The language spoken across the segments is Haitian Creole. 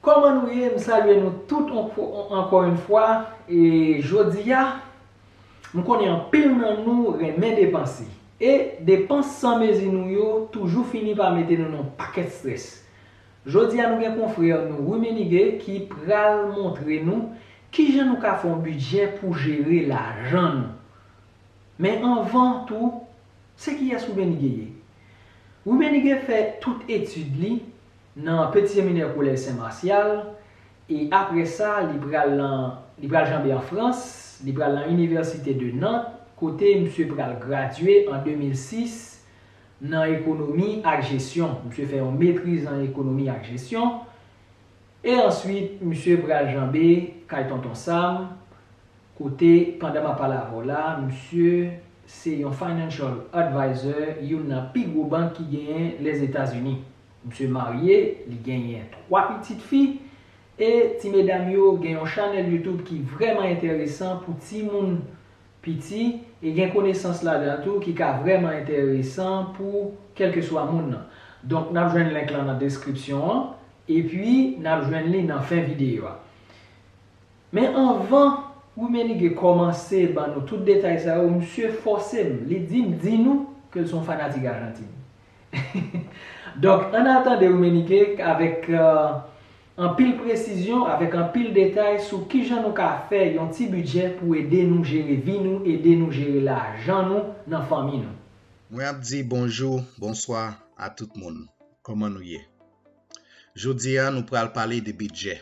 Kòman nou ye? M salye nou tout ankò yon fwa e jodi a m konnen anpil nan nou renmen depanse e depans san mezi nou yo toujou fini pa mete nou nan yon pakèt strès. Jodi a nou gen konfrè nou Rummenigge ki pral montre nou kijan nou ka fè yon bidjè pou jere lajan nou. Men anvan tou, se kiyès Rummenigge ye? Rummenigge fè tout etid li nan Peti Seminè Kolèj Sen Marsyal, e apre sa li pral lan li pral janbe an Frans, li pral lan Université de Nantes kote msye pral gradye an 2006 nan ekonomi ak jesyon, msye fè yon metriz an ekonomi ak jesyon, e answit msye pral janbe kay Tonton Sam kote pandan map pale avè w la msye se yon Financial Advisor youn nan pi gwo bank ki genyen Lèzetazini. Msye marye, li genyen 3 pitit fi, e ti medam yo gen yon chanèl YouTube ki vrèman enteresan pou timoun piti e gen konesans ladan tou ki ka vrèman enteresan pou kèlkeswa moun nan. Donk nap jwenn link lan nan deskripsyon an, epi nap jwenn li nan fen videyo a. Men anvan Rummenigge kòmanse ban nou tout detay sa yo, msye fòse m, li di m di nou ke l son fanatik Ajantin. Donk, ann al tande Rumenike k avèk anpil presizyon, avèk anpil detay sou kijan nou ka fè yon ti bidjè pou ede nou jere vi nou, ede nou jere lajan nou nan fanmi nou. Mwen ap di bonjou, bonswa a tout moun. Kòman nou ye? Jodi a nou pral pale de bidjè.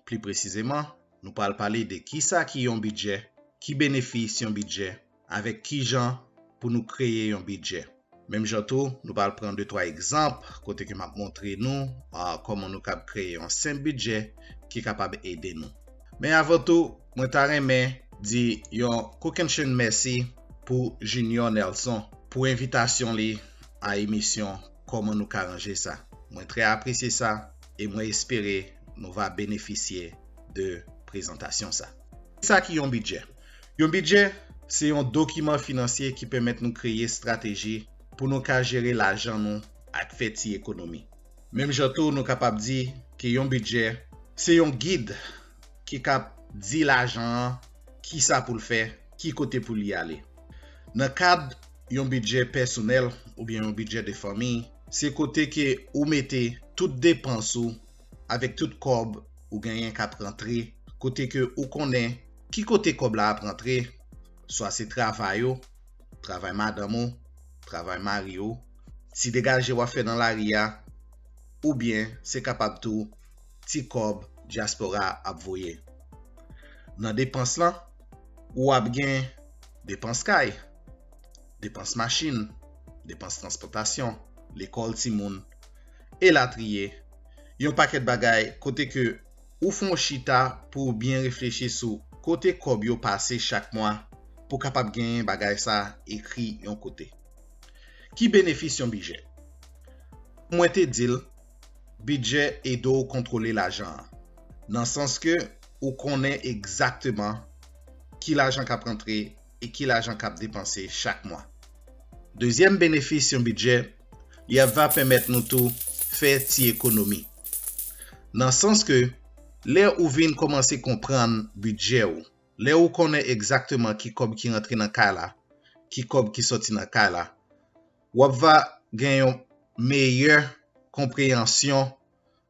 Pli presizeman, nou pral pale de kisa ki yon bidjè, ki benefis yon bidjè, avèk ki jan pou nou kreye yon bidjè. Menm jan tou, nou pral pran de twa egzanp kote ke m ap montre nou kòman nou kab kreye yon senp bidjè ki kapab ede nou. Men avan tou, mwen ta renmen di yon kokennchenn mèsi pou Junior Nelson pou envitasyon li a emisyon Kòman nou ka ranje sa. Mwen trè apresye sa e mwen espere nou va benefisye de prezantasyon sa. Sa ki yon bidjè? Yon bidjè se yon dokiman finansye ki pèmèt nou kreye estrateji pou nou ka jere lajan nou ak fè ti ekonomi. Menm jan tou nou kapab di ke yon bidjè se yon gid ki kap di lajan an ki sa pou l fè, ki kote pou li ale. Nan kad yon bidjè pèsonèl oubyen yon bidjè de fanmiy, se kote ke ou mete tout depans ou, avèk tout kòb ou genyen kap rantre kote ke ou konnen ki kote kòb la ap rantre swa se travay ou travay madanm ou travay mari ou ti degaje wap fè nan lari a oubyen se kapab tou ti kòb dyaspora ap voye nan depans lan ou ap gen depans kay depans machin depans transpòtasyon lekòl timoun elatriye, yon pakèt bagay kote ke ou fè yon chita pou ou byen reflechi sou kote kòb yo pase chak mwa pou w kapab genyen bagay sa ekri yon kote. Ki benefis yon bidjè? Kou mwen te di l, bidjè ede w kontwole lajan an, nan sans ke ou konnen egzakteman ki lajan k ap rantre e ki lajan k ap depanse chak mwa. Dezyèm benefis yon bidjè li ap va pèmèt nou tou fè ti ekonomi. Nan sans ke lè ou vin kòmanse konprann bidjè ou, lè ou konnen egzakteman ki kòb ki rantre nan kay la, ki kòb ki sòti nan kay la, w ap va gen yon meyè konpreyansyon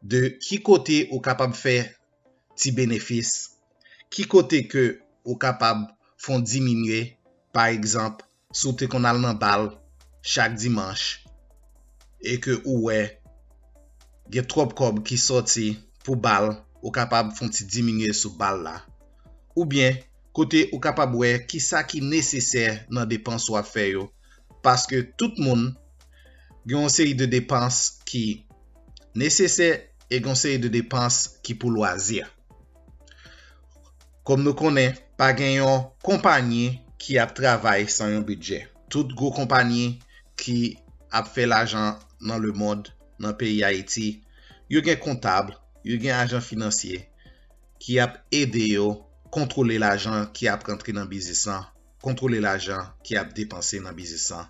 de ki kote ou kapab fè ti benefis, ki kote ke ou kapab fon diminye, pa egzanp, si w te konn al nan bal chak dimanch e ke ou wè gen twòp kòb ki sòti pou bal ou kapab fon ti diminye sou bal la oubyen kote ou kapab wè kisa ki nesesè nan depans ou ap fè yo paske tout moun gen yon seri de depans ki nesesè e gen yon seri de depans ki pou lwazi. Kòm nou konnen, pa gen yon konpanyi ki ap travay san yon bidjè. Tout gwo konpanyi ki ap fè lajan nan lemond, nan peyi Ayiti, yo gen kontab, yo gen ajan finansye ki ap ede yo kontwole lajan ki ap rantre nan biznis lan, kontwole lajan ki ap depanse nan biznis lan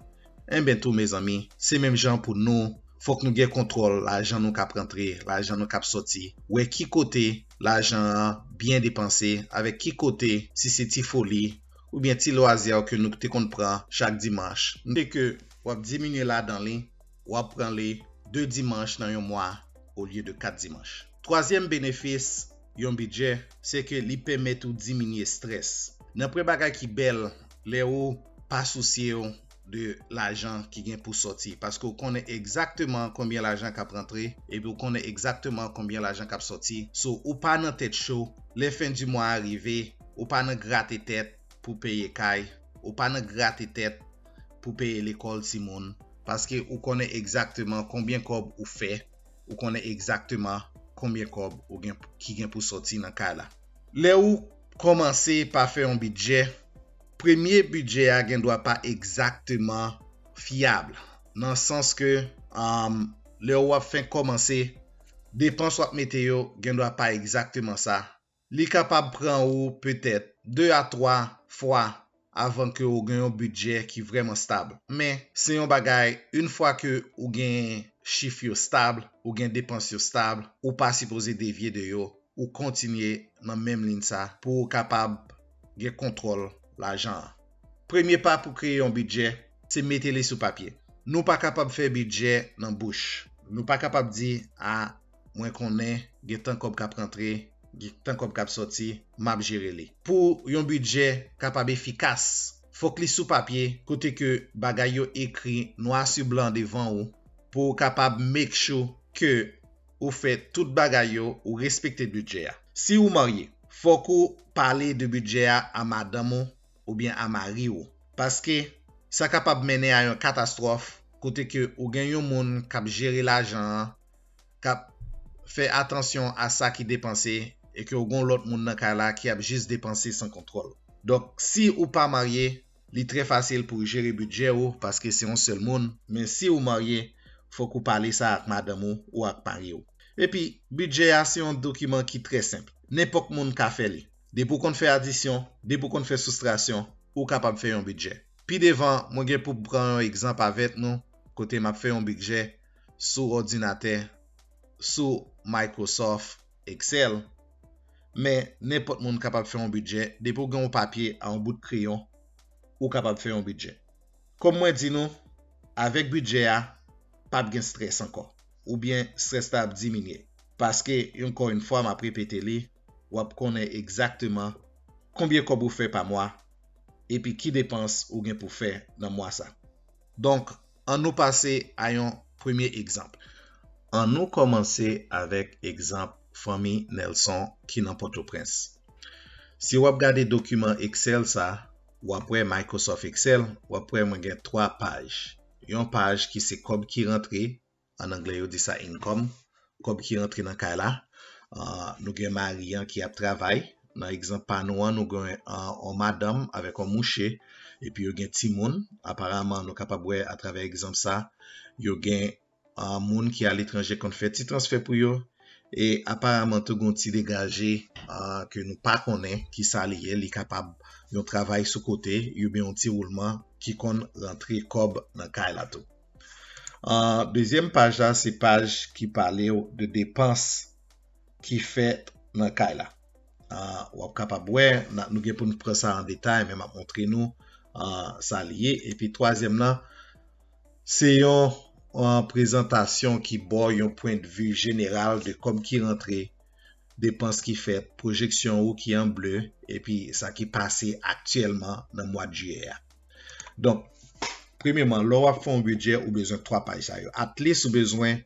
enben tou mezanmi se menm jan pou nou fòk nou gen kontwòl lajan nou kap rantre lajan nou kap sòti wè ki kote lajan an byen depanse avèk ki kote si se ti foli oubyen ti lwazier ke nou te konn pran chak dimanch e ke wap diminye ladan li. wap pran li 2 dimanch nan yon mwa olye de 4 dimanch. Twazyèm benefis yon bidjè se ke li pèmèt ou diminye strès. Nan pwen bagay ki bèl lè ou pa sousye w de lajan ki gen pou sòti paske ou konnen egzakteman konbyen lajan kap rantre epi ou konnen egzakteman konbyen lajan kap sòti so ou pa nan tèt cho lè fen di mwa a rive ou pa nan grate tèt pou peye kay ou pa nan grate tèt pou peye lekòl timoun paske ou konnen egzakteman konbyen kòb ou fè, ou konnen egzakteman konbyen kòb ou gen ki gen pou sòti nan kay la. Lè ou kòmanse pa fè yon bidjè, premye bidjè a gen dwa pa egzakteman fyab nan sans ke lè ou ap fenk kòmanse depans ou ap mete yo gen dwa pa egzakteman sa Li kapab pran ou petèt 2 a 3 fwa avan ke ou gen yon bidjè ki vrèman stab. Men, se yon bagay, yn fwa ke ou gen chif yo stab, ou gen depans yo stab, ou pa sipoze devye de yo, ou kontinye nan menm lin sa pou ou kapab gen kontwòl lajan an. Premye pa pou kreye yon bidjè, se mete li sou papye. Nou pa kapab fè bidjè nan bouch. Nou pa kapab di, a, mwen konnen gen tan kòb kap rantre gen tan kòb kap sòti map jere li pou yon bidjè kapab efikas fòk li sou papye kote ke bagay yo ekri nwa su blan devan ou pou ou kapab make sure ke ou fè tout bagay yo ou respekte bidjè a si ou marye fòk ou pale de bidjè a a madanm ou oubyen a mari ou paske sa kapab mennen a yon katastròf kote ke ou gen yon moun kap jere lajan an kap fè atansyon a sa ki depanse e ke ou gon lòt moun nan kay la ki ap jis depanse san kontwòl. Donk si ou pa marye, li trè fasil pouw jere bidjè ou paske se yon sèl moun, men si ou marye, fòk ou pale sa ak madanm ou ou ak mariw. Epi, bidjè a se yon dokiman ki trè senp, nenpòk moun ka fè li. Depi ou konn fè adisyon, depi ou konn fè soustrasyon, ou kapab fè yon bidjè. Pi devan, mwen gen poum pran yon egzanp avèk nou kote map fè yon bidjè sou òdinatè, sou Microsoft Excel, men nenpòt moun kapab fè yon bidjè, depi ou gen yon papye a yon bout kreyon, ou kapab fè yon bidjè. Kòm mwen di nou, avèk bidjè a, pap gen strès ankò, oubyen strès la ap diminye, paske ankò yon fwa map repete li, wap konnen egzakteman konbyen kòb ou fè pa mwa, epi ki depans ou gen pou fè nan mwa sa. Donk, An nou pase a yon premye egzanp. An nou kòmanse avèk egzanp fanmi Nelson ki nan Pòtoprens. Si w ap gade dokiman Excel sa, w ap wè Microsoft Excel, w ap wè mwen gen 3 paj. Yon paj ki se kòb ki rantre, an anglè yo di sa income, kòb ki rantre nan kay la, nou gen mari an ki ap travay, nan egzanp pa nou an nou gen yon madanm avèk yon mouche epi yo gen timoun, aparaman nou kapab wè atravè egzanp sa yo gen moun ki aletranje konn fè ti transfè pou yo e aparaman tou gen yon ti degaje ke nou pa konnen ki sa li ye, li kapab yon travay sou kote oubyen yon ti woulman ki konn rantre kòb nan kay la tou. An dezyèm paj la se paj ki pale w de depans ki fèt nan kay la. An w ap kapab wè nou gen pou n pran sa an detay men m ap montre nou an sa li ye. Epi twazyèm lan se yon prezantasyon ki ba w yon pwendvi jeneral de kòb ki rantre, depans ki fèt, pwojeksyon ou ki an ble epi sa ki pase aktyèlman nan mwad jiyè a. Donk, premyeman, lè w ap fè yon bidjè, ou bezwen 3 paj sa yo. Atlis ou bezwen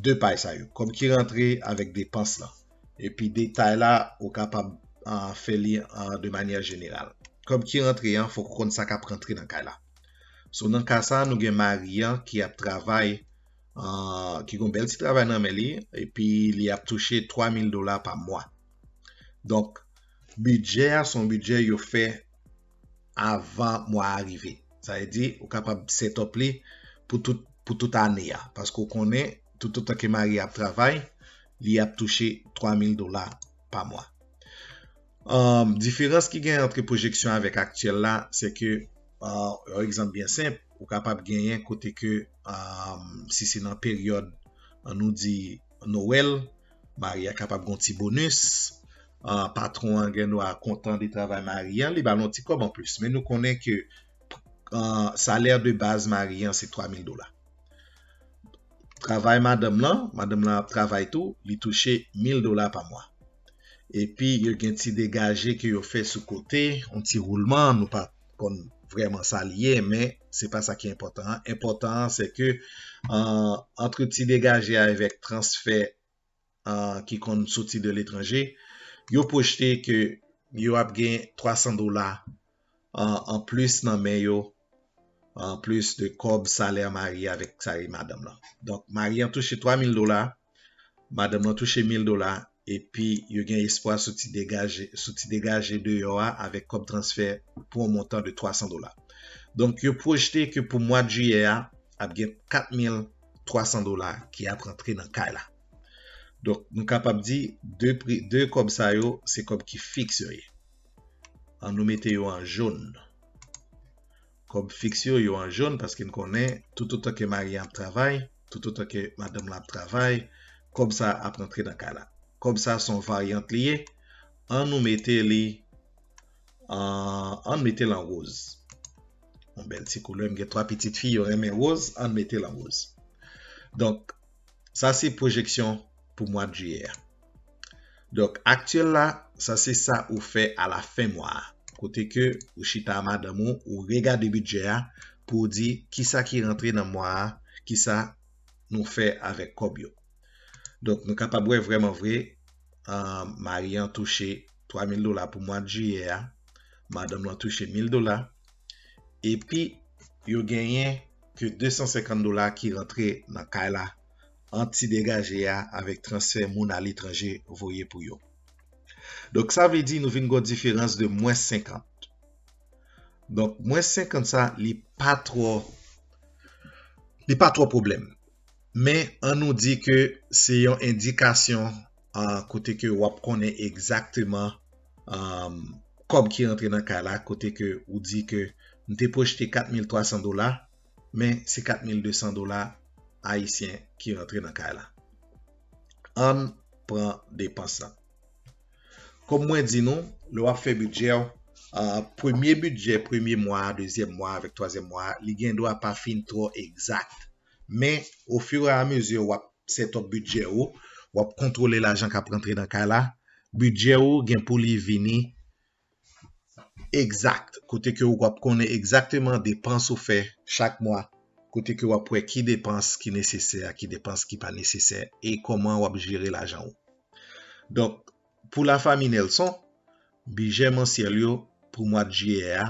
2 paj sa yo. Kòb ki rantre avèk depans lan. Epi detay la, ou kapab fè li de manyè jeneral. Kòb ki rantre an, fòk ou konn sa k ap rantre nan kay la. So, nan ka sa, nou gen mari an ki ap travay, ki gen yon bèl ti travay nan men li, epi li ap touche 3 mil dola pa mwa. Donk, bidjè a se yon bidjè yo fè. avan mwa a rive. Sa vle di ou kapab set up li pou tout pou tout ane a. Paske ou konnen toutotan ke mari a ap travay, li ap touche 3000 dola pa mwa. Diferans ki gen antre pwojeksyon an avèk aktyèl la, se ke yon egzanp byen senp, ou kapab genyen kote ke si se nan peryòd an nou di Noel, Mari a kapab gen yon ti bonus, patwon an gen dwa kontan de travay mari an, li ba l yon ti kòb anplis. Men nou konnen ke salè de baz mari an se 3000 dola. Travay madanm lan, madanm lan ap travay tou, li touche 1000 dola pa mwa. Epi yo gen ti degaje ke yo fè sou kote, yon ti woulman, nou pa konn vrèman sa li ye, men se pa sa ki enpòtan an. Enpòtan an se ke antre ti degaje a avèk transfè ki konn soti de letranje, yo pwojte ke yo ap gen 300 dola an plis nan men yo, an plis de kòb salè mari avèk salè madanm lan. Donk mari an touche 3 mil dola, Madanm lan touche mil dola epi yo gen espwa sou ti degaje sou ti degaje deyò a avèk kòb transfè pou yon montan de 300 dola. Donk yo pwojte ke pou mwad jiyè a ap gen 4300 dola ki ap rantre nan kay la. Donk nou kapab di 2 pri 2 kòb sa yo se kòb ki fiks yo ye. An nou mete yo an jaune. Kòb fiks yo, yo an jòn paske n konnen toutotan ke mari an ap travay, toutotan ke madanm lan ap travay, kòb sa a ap rantre nan kay la. Kòb sa a se yon varyant li ye, an nou mete li an, an n mete l an woz. Yon bèl ti koulè, m gen 3 pitit fi, yo renmen woz, an n mete l an woz. Donk. Sa se pwojeksyon pou mwad jiyè a. Donk aktyèl la, sa se sa ou fè a la fen mwa a. Kote ke ou chita a madanm ou, ou regade bidjè a pou ou di kisa ki rantre nan mwa a, kisa nou fè avèk kòb yo. Donk nou kapab wè vrèman vre mari an touche 3000 dola pou mwad jiyè a, madanm lan touche 1000 dola, epi yo genyen ke 250 dola ki rantre nan kay la an ti degaje a avèk transfè moun aletranje voye pou yo. Donk sa vle di nou vin gon diferans de mwens 50. Donk mwens 50 sa li pa twò li pa twò pwoblèm. Men an nou di ke se yon endikasyon kote ke wap konnen egzakteman kòb ki rantre nan kay la kote ke ou di ke m te pwojte 4300 dola men se 4200 dola ayisyen ki rantre nan kay la ann pran depans la kòm mwen di nou lè wap fè bidjè w premye bidjè premye mwa dezyèm mwa avèk twazyèm mwa li gen dwa pa fin twò egzak men ofira amezi wap set up bidjè ou, wap kontwole lajan kap rantre nan kay la, bidjè ou gen pou li vini egzak, kote ke ou wap konnen egzakteman depans ou fè chak mwa, kote ke wap wè ki depans ki nesesè ak ki depans ki pa nesesè e koman wap jere lajan ou. Donk, Pou la fami Nelson, bidjè mansyèl yo pou mwad jiyè a,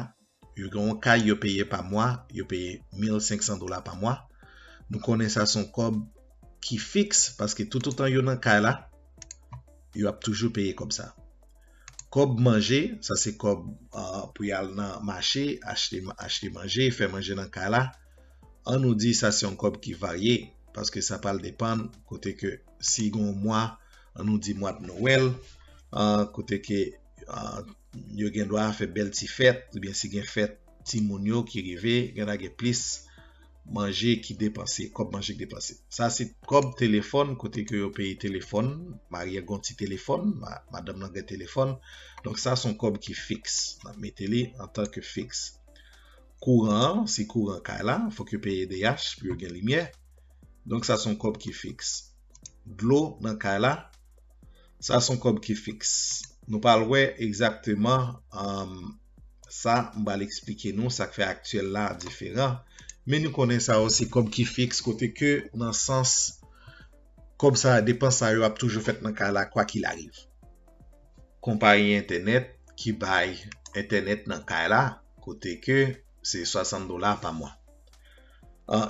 yo gen yon kay yo peye pa mwa, yo peye 1500 dola pa mwa. Nou konnen sa son kòb ki fiks paske toutotan yo nan kay la, yo ap toujou peye kòb sa. Kòb manje, sa se kòb pou y al nan mache, achte achte manje, fè manje nan kay la. An nou di sa se yon kòb ki varye paske sa pral depann kote ke si gon mwa an nou di mwad Noël kote ke yo gen dwa fè bèl ti fèt ou byen si gen fèt ti moun yo ki rive gen dwa gen plis manje ki depanse, kòb manje ki depanse. Sa se kòb telefòn kote ke yo peye telefòn, marye a gon ti telefòn, madanm nan gen telefòn. Donk sa son kòb ki fiks. N ap mete li an tan ke fiks. Kouran, si kouran kay la, fòk yo peye edeyach pou yo gen limyè. Donk sa son kòb ki fiks. Dlo nan kay la, sa son kòb ki fiks. Nou pral wè egzakteman sa m pral eksplike nou sa k fè aktyèl la diferan. Men nou konnen sa yo se kòb ki fiks kote ke nan sans kòb sa a depans sa yo ap toujou fèt nan kay la kwa kil ariv. Konpayi entènèt ki bay entènèt nan kay la kote ke. se 60 dola pa mwa.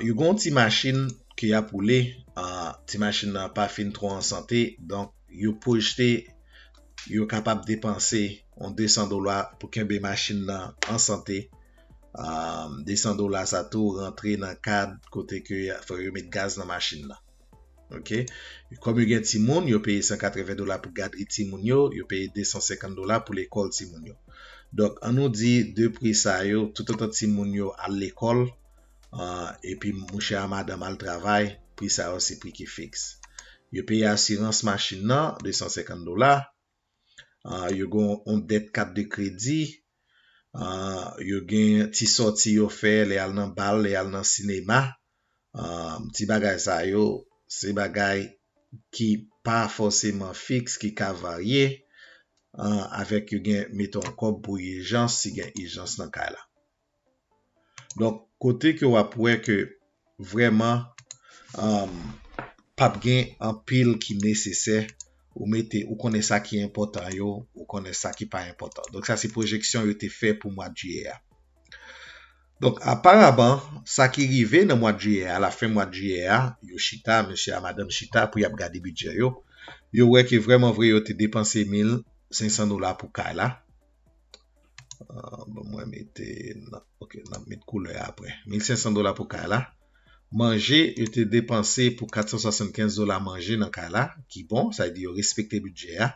Yo gen yon ti machin ke y ap woule, ti machin nan pa fin twò an sante, donk yo pwojte yo kapab depanse yon 200 dola pou kenbe machin nan an sante. 200 dola sa tou rantre nan kad kote ke fò yo met gaz nan machin nan. Ok, kòm yo gen timoun, yo peye 180 dola pou gadri timoun yo, yo peye 250 dola pou lekòl timoun yo. Donk, an nou di 2 pri sa yo, toutotan timoun yo al lekòl, epi mouche a madanm al travay, pri sa yo se pri ki fiks. Yo peye asirans machin nan, 250 dola. Yo gen yon dèt kat de kredi, yo gen ti sòti yo fè lè y al nan bal, lè y al nan sinema. Ti bagay sa yo, se bagay ki pa fòseman fiks, ki ka varye avèk yo gen meton kòb pou ijans, si gen ijans nan kay la. Donk kote ke wap wè ke vrèman pap gen anpil ki nesesè ou mete ou konnen sa ki enpòtan yo ou konnen sa ki pa enpòtan. Donk sa se pwojeksyon yo te fè pou mwad jiyè a. Donk aparaman sa ki rive nan mwad jiyè a alafen mwad jiyè a yo chita mesye a madanm chita pou yap gade bidjè yo yo wè ke vrèman vre yo te depanse 1500 dola pou kay la Ah, bon mwen mete nan, ok, nan met koulè apre. 1500 dola pou kay la. Manje, yo te depanse pou 475 dola manje nan kay la, ki bon, sa di yo respekte bidjè a.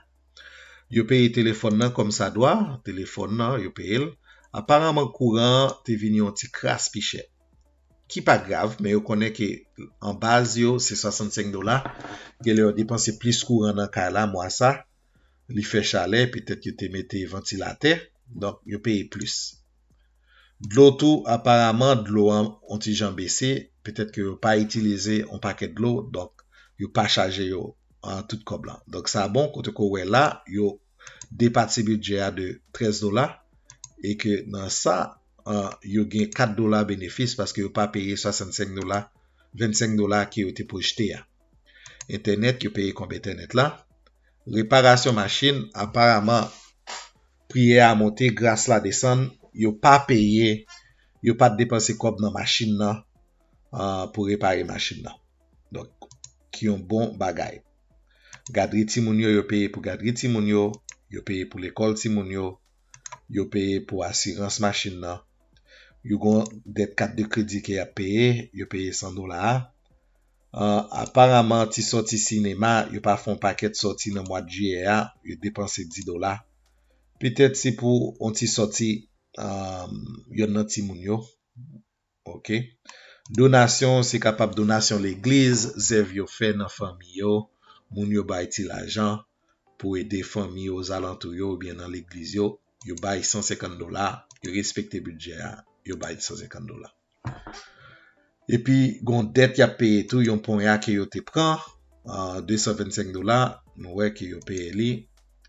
Yo peye telefòn nan kòm sa dwa, telefòn nan yo peye l. Aparanman kouran an te vin yon ti kras pi chè. Ki pa grav, men yo konnen ke an baz yo se 65 dola, genlè yo depanse plis kouran nan kay la mwa sa. li fè chalè, petèt yo te mete vantilatè, donk yo peye plis. Dlo tou, aparaman dlo an on ti jan bese, petèt ke yo pa itilize on pakèt dlo, donk yo pa chaje yo tout kòb lan. Donk sa bon, kote ke w wè la, yo depati bidjè a de 13 dola, e ke nan sa, yo gen 4 dola benefis, paske yo pa peye 65 dola, 25 dola ke yo te pwojte a. Entènèt yo peye konbe entènèt la. Reparasyon machin aparaman priyè a monte gras la desann yo pa peye yo pat depanse kòb nan machin nan pou repare machin nan. Donk ki yon bon bagay. Gadri timoun yo yo peye pou gadri timoun yo, yo peye pou lekòl timoun yo, yo peye pou asirans machin nan. Yo gon dèt kat de kredi ke yap peye, yo peye 100 dola a. Ahh aparaman ti sòti sinema yo pa fè yon pakèt sòti nan mwad jiyè a yo depanse 10 dola petèt se pou yon ti sòti ahh yonn nan timoun yo ok donasyon se kapab donasyon legliz zèv yo fè nan fanmi yo moun yo bay ti lajan pou ede fanmi yo ozalantou yo oubyen nan legliz yo yo bay 150 dola yo respekte bidjè a yo bay 150 dola. Epi gon dèt yap peye tou yon ponya ke yo te pran 225 dola nou wè ke yo peye li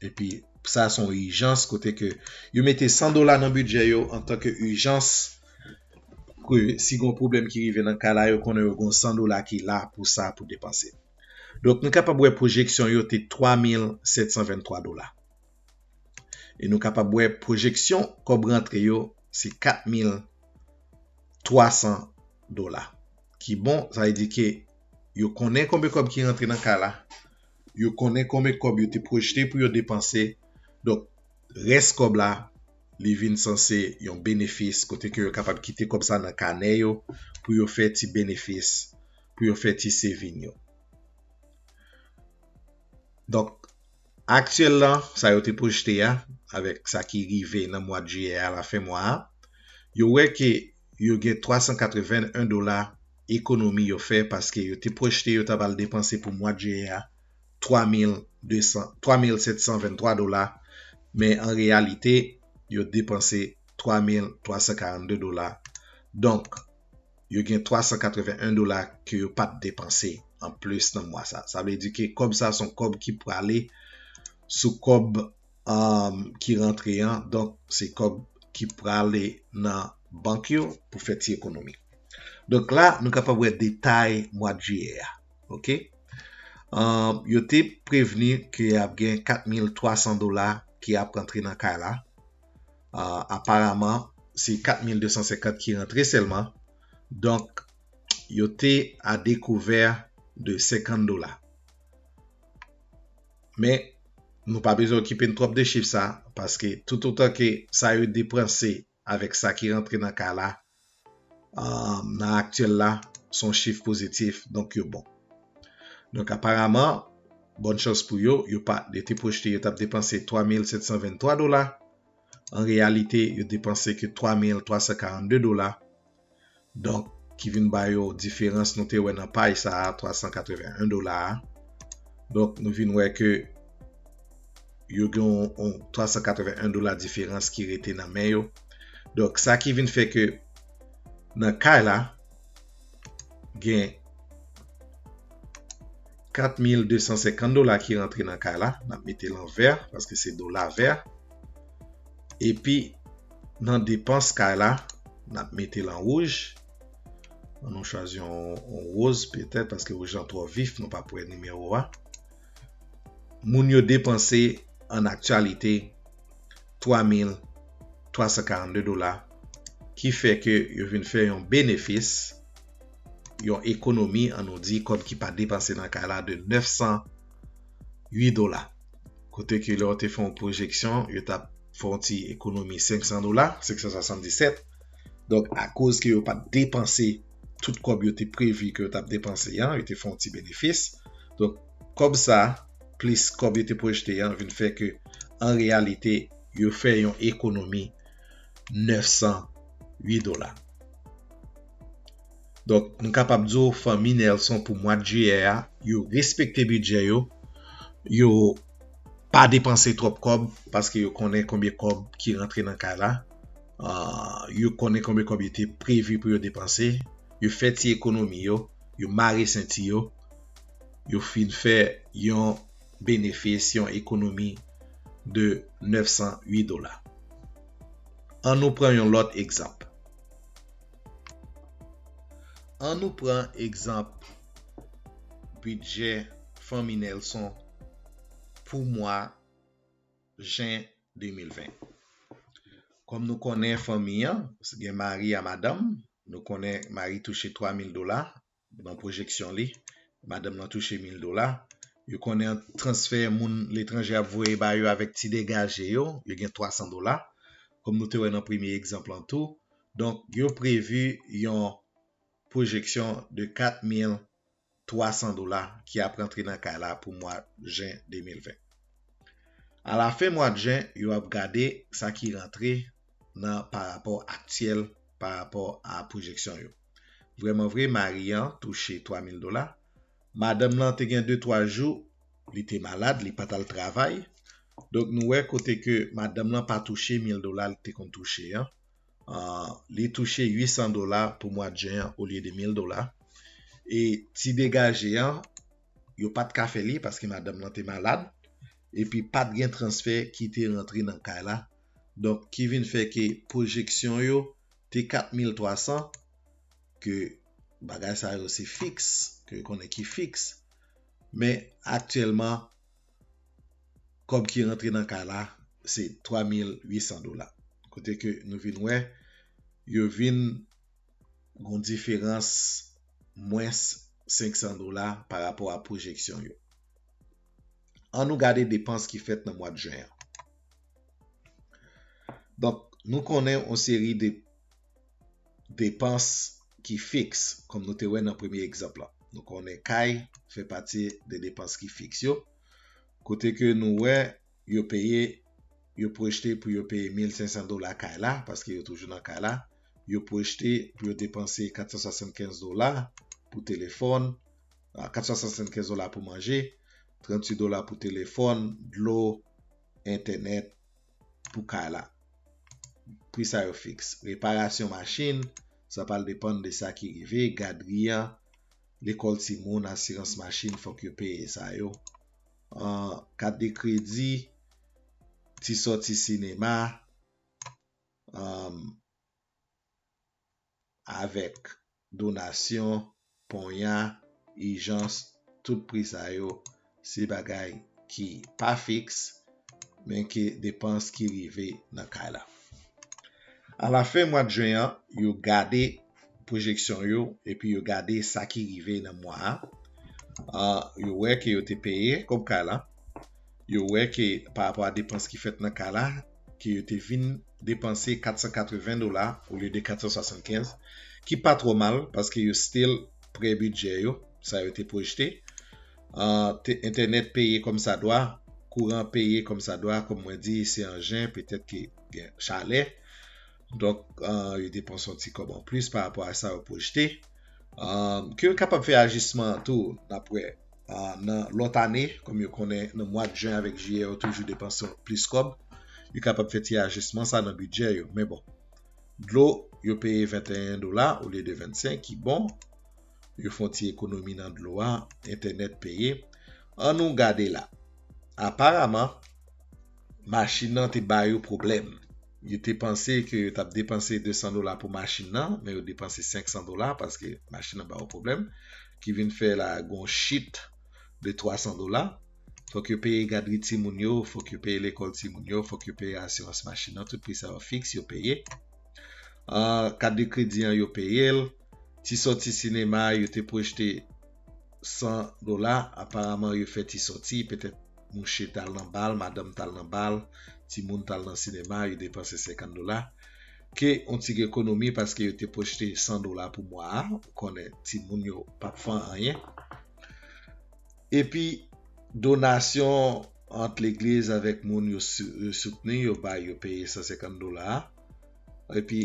epi sa son ijans kote ke yo mete 100 dola nan bidjè yo antan ke ijans ke si gon pwoblèm ki rive nan kay la yo konnen yo gon 100 dola ki la pou sa pou depanse. Donk nou kapab wè pwojeksyon yo te 3723 dola. E nou kapab wè pwojeksyon kòb rantre yo se 4300 dola ki bon sa vle di ke yo konnen konbe kòb ki rantre nan kay la yo konnen konbe kòb yo te pwojte pou yo depanse donk rès kòb la li vin sanse yon benefis kote ke yo kapab kite kòb sa nan kanè yo pou yo fè ti benefis pou yo fè ti sevin yo donk Aktyèl lan, sa yo te pwojte a, avèk sa ki rive nan mwad jiyè a lafen mwa a, yo wè ke yo gen 381 dola ekonomi yo fè paske yo te pwojte yo ta pral depanse pou mwad jiyè a 3200 3723 dola men an reyalite yo depanse 3342 dola donk yo gen 381 dola ke yo pat depanse an plis nan mwa sa. Sa vle di ke kòb sa son kòb ki prale sou kòb ki rantre an, donk se kòb ki prale nan bank yo pou fè ti ekonomi. Donk la nou kapab wè detay mwa jiyè a. Ok. Yo te prevni ke ap gen 4300 dola ki ap rantre nan kay la. Aparaman se 4250 ki rantre sèlman. Donk yo te a dekouvè de 50 dola. Men nou pa bezwen okipe n twòp de chif sa paske toutotan ke sa yo depanse avèk sa ki rantre nan kay la nan aktyèl la son chif pozitif donk yo bon donk aparaman bòn chans pou yo yo pa yo te pwojte yo tap depanse 3723 dola an reyalite yo depanse ke 3342 dola donk ki vin ba yo diferans nou te wè nan pay sa 381 dola donk nou vin wè ke yo gen yon 381 dola diferans ki rete nan men yo. Donk sa ki vin fè ke nan kay la gen 4250 dola ki rentre nan kay la, nan mete lan ver, paske se dola ver. E pi nan depans kay la, nan mete lan wouj. An nou chwazi yon woz petè, paske wouj lan tro vif, nou pa pwè nimewo a. moun yo depanse an aktyalite 3,342 dola ki fè ke yo vin fè yon benefis, yon ekonomi an nou di kòb ki pa depanse nan kay la de 908 dola. Kote ke lè yo te fè yon pwojeksyon yo tap fè yon ti ekonomi 500 dola, 577. Donk akoz ke yo pat depanse nan. tout kòb yo te previ ke yo tap depanse an, yo te fè yon ti benefis. Donk, kòb sa, plis kòb yo te pwojte an vin fè ke an reyalite yo fè yon ekonomi 908 dola. Donk, m kapab di ou fanmi Nelson pou mwad jiyè a, yo respekte bidjè yo, yo pa depanse twòp kòb paske yo konnen konbyen kòb ki rantre nan kay la. Yo konnen konbyen kòb yo te previ pou yo depanse, yo fè ti ekonomi yo, yo mare senti yo, yo fin fè yon benefis, yon ekonomi de 908 dola. An nou pran yon lòt egzanp. An nou pran egzanp bidjè fanmi Nelson pou mwa. jen 2020. Kòm nou konnen fanmi an, gen mari a madanm, nou konnen mari touche 3 mil dola, nan pwojeksyon li, madanm nan touche 1000 dola, yo konnen ant transfè moun letranje ap voye ba yo avèk ti degaje yo, yo gen 300 dola, kòm nou te wè nan premye egzanp lan tou, donk yo previ yon pwojeksyon de 4 mil 300 dola ki ap rantre nan kay la pou mwa jen 2020. A la fen mwa jen, yo ap gade sa ki rantre nan pa rapò aktyèl pa rapò a pwojeksyon yo. Vreman vre, mari an touche 3 mil dola. Madanm lan te gen 2, 3 jou li te malad, li pa t al travay. Donk nou wè kote ke madanm lan pa touche mil dola li te konn touche an. li touche 800 dola pou mwad jen an olye de 1000 dola e ti degaje an yo pat ka fè li paske madanm lan te malad epi pat gen transfè ki te rantre nan kay la donk ki vin fè ke pwojeksyon yo te 4300 ke bagay sa yo se fiks ke konnen ki fiks men aktyèlman kòb ki rantre nan kay la se 3800 dola kote ke nou vin wè yo vin gon diferans mwens 500 dola pa rapò a pwojeksyon yo. An nou gade depans ki fèt nan mwad jen an. Donk nou konnen yon seri de depans ki fiks kòm nou te wè nan premye egzanp la. Nou konnen kay fè pati de depans ki fiks yo kote ke nou wè yo peye yo pwojte pou yo peye 1500 dola kay la paske yo toujou nan kay la yo pwojte pou yo depanse 475 dola pou telefòn 475 dola pou manje 38 dola pou telefòn, dlo, entènèt pou kay la. Pri sa yo fiks. Reparasyon machin, sa pral depann de sa ki rive, gadri an, lekòl timoun, asirans machin, fòk yo peye sa yo. Kat de kredi, ti sòti sinema. avèk donasyon, ponya, ijans, tout pri sa yo se bagay ki pa fiks men ke depans ki rive nan kay la. A la fen mwad Jwen an, yo gade pwojeksyon yo epi yo gade sa ki rive nan mwa a, yo wè ke yo te peye kòb kay la, yo wè ke pa rapò a depans ki fèt nan kay la, ke yo te vin depanse 480 dola olye de 475 ki pa twò mal paske yo still pre bidjè yo sa yo te pwojte entènèt peye kòm sa dwa kouran peye kòm sa dwa kòm mwen di se an jen petèt ke gen chalè Donk, yo depanse yon ti kòb anplis pa rapò a sa yo pwojte. Ke yo kapab fè ajisman an tou, n ap wè. Nan lòt ane, kòm yo konnen nan mwad jen avèk jiyè yo toujou depanse plis kòb, yo kapab fè ti ajisman sa nan bidjè yo. Men bon, dlo yo peye 21 dola olye de 25 ki bon. Yo fè yon ti ekonomi nan dlo a, entènèt peye. Annou gade la. Aparaman, Machin nan te ba yo pwoblèm. Yo te panse ke yo t ap depanse 200 dola pou machin nan, men yo depanse 500 dola paske machin nan ba yo pwoblèm. Ki vin fè la gen yon chit de 300 dola. Fòk yo peye gadri timoun yo, fòk yo peye lekòl timoun yo, fòk yo peye asirans machin nan. Tout pri sa yo fiks, yo peye. Kat de kredi an yo peye l. Ti sòti sinema, yo te pwojte. 100 dola aparaman yo fè ti sòti petèt mouche tal nan bal madanm tal nan bal ti moun tal nan sinema yo depanse 50 dola ke on ti ekonomi paske yo te pwojte 100 dola pou mwa a ou konnen ti moun yo pap fan anyen epi donasyon ant legliz avèk moun yo soutni yo bay yo peye 150 dola epi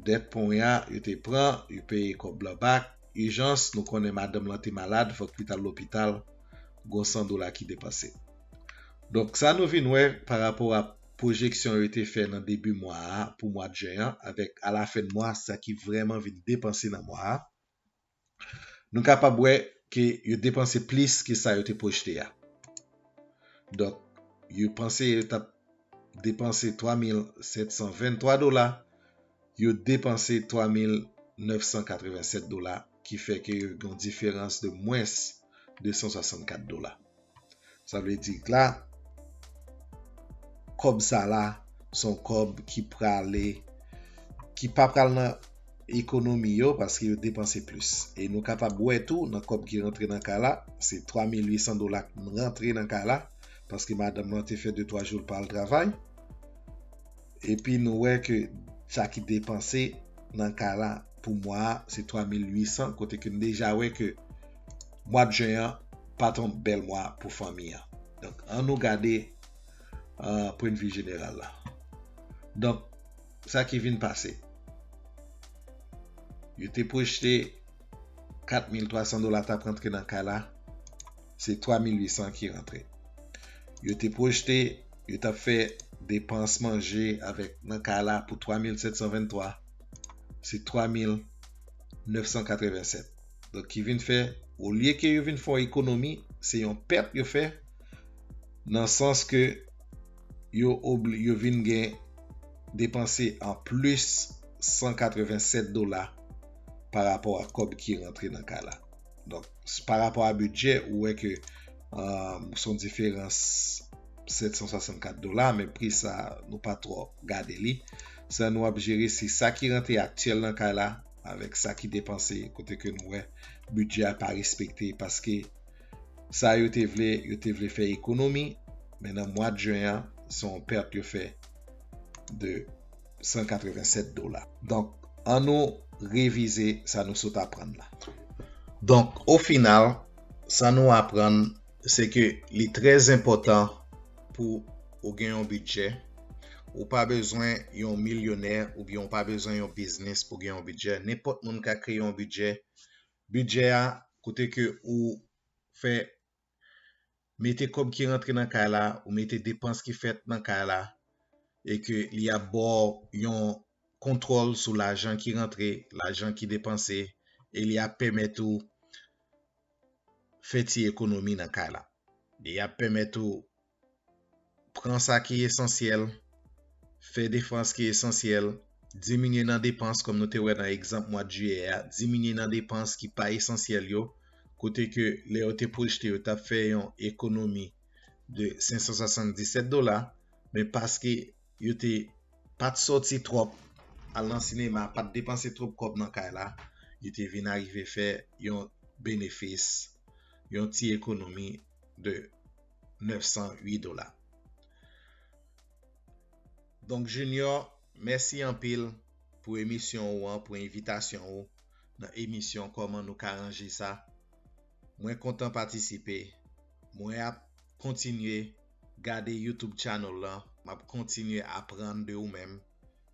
dèt ponya yo te pran yo peye kòb la bak ijans nou konnen madanm lan te malad fòk li tal lopital gon 100 dola ki depanse donk sa nou vin wè pa rapò a pwojeksyon yo te fè nan debi mwa a pou mwad jen an avèk ala fen mwa sa ki vrèman vin depanse nan mwa a nou kapab wè ke yo depanse plis ke sa yo te pwojte a donk yo panse yo tap depanse 3723 dola. yo depanse 3,987 dola ki fè ke yo gen yon diferans de mwens 264 dola. Sa vle di ke la, kòb sa la son kòb ki prale, ki pa pral nan ekonomi yo paske yo depanse plis. E nou kapab wè tou nan kòb ki rantre nan kay la, se 3,800 dola ki rantre nan kay la paske madanm lan te fè de twa jou li pa al travay. Epi nou wè ke sa ki depanse nan ka la pou mwa a se 3800 kote ke nou deja wè ke mwad jen an pa t yon bèl mwa pou fanmi an. Donk an nou gade pwennvi jeneral la. Donk sa ki vin pase. Yo te pwojte 4300 dola ta p rantre nan ka la. se 3800 ki rantre. Yo te pwojte yo tap fè depans manje avèk nan kay la pou 3723, se 3987. Donk ki vin fè olye ke yo vin fè yon ekonomi, se yon pèt yo fè nan sans ke yo obli, yo vin gen depanse an plis 187 dola pa rapò ak kòb ki rantre nan kay la. Donk, pa rapò a bidjè, ou wè ke son diferans 764 dola, men pri sa nou pa tro gade li. Sa nou ap jere, se sa ki rantre aktyèl nan kay la, avèk sa ki depanse, kote ke nou wè, bidjè a pa respekte, paske sa yo te vle, yo te vle fè ekonomi, men nan mwad jen an, son pèt yo fè de. 187 dola. Donk, an nou revize sa nou sot aprann la. Donk, o final, sa nou aprann, se ke li trè zenpòtan pou ou gen yon bidjè. Ou pa bezwen yon milyonè oubyen ou pa bezwen yon biznis pou gen yon bidjè. Nenpòt moun ka kreye yon bidjè. Bidjè a, kote ke ou fè mete kòb ki rantre nan kay la, ou mete depans ki fèt nan kay la e ke li ap ba w yon kontwòl sou lajan ki rantre, lajan ki depanse e li ap pèmèt ou fè ti ekonomi nan kay la. Li ap pèmèt ou Pran sa ki esansyèl, fè defans ki esansyèl, diminye nan depans kòm nou te wè nan egzanp mwad jiyè a, diminye nan depans ki pa esansyèl yo, kote ke lè yo te pwojte yo tap fè yon ekonomi de 577 dola, men paske yo te pat sòti twòp, al nan sinema, pat depanse twòp kòb nan kay la, yo te vin arive fè yon benefis, yon ti ekonomi de 908 dola. Donk Junior, mèsi anpil pou emisyon ou an, pou envitasyon ou nan emisyon Kòman nou ka ranje sa. Mwen kontan patisipe. Mwen ap kontinye gade YouTube channel lan, m ap kontinye aprann de ou menm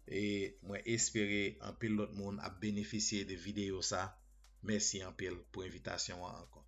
e mwen espere anpil lòt moun ap benefisye de videyo sa. Mèsi anpil pou envitasyon an ankò.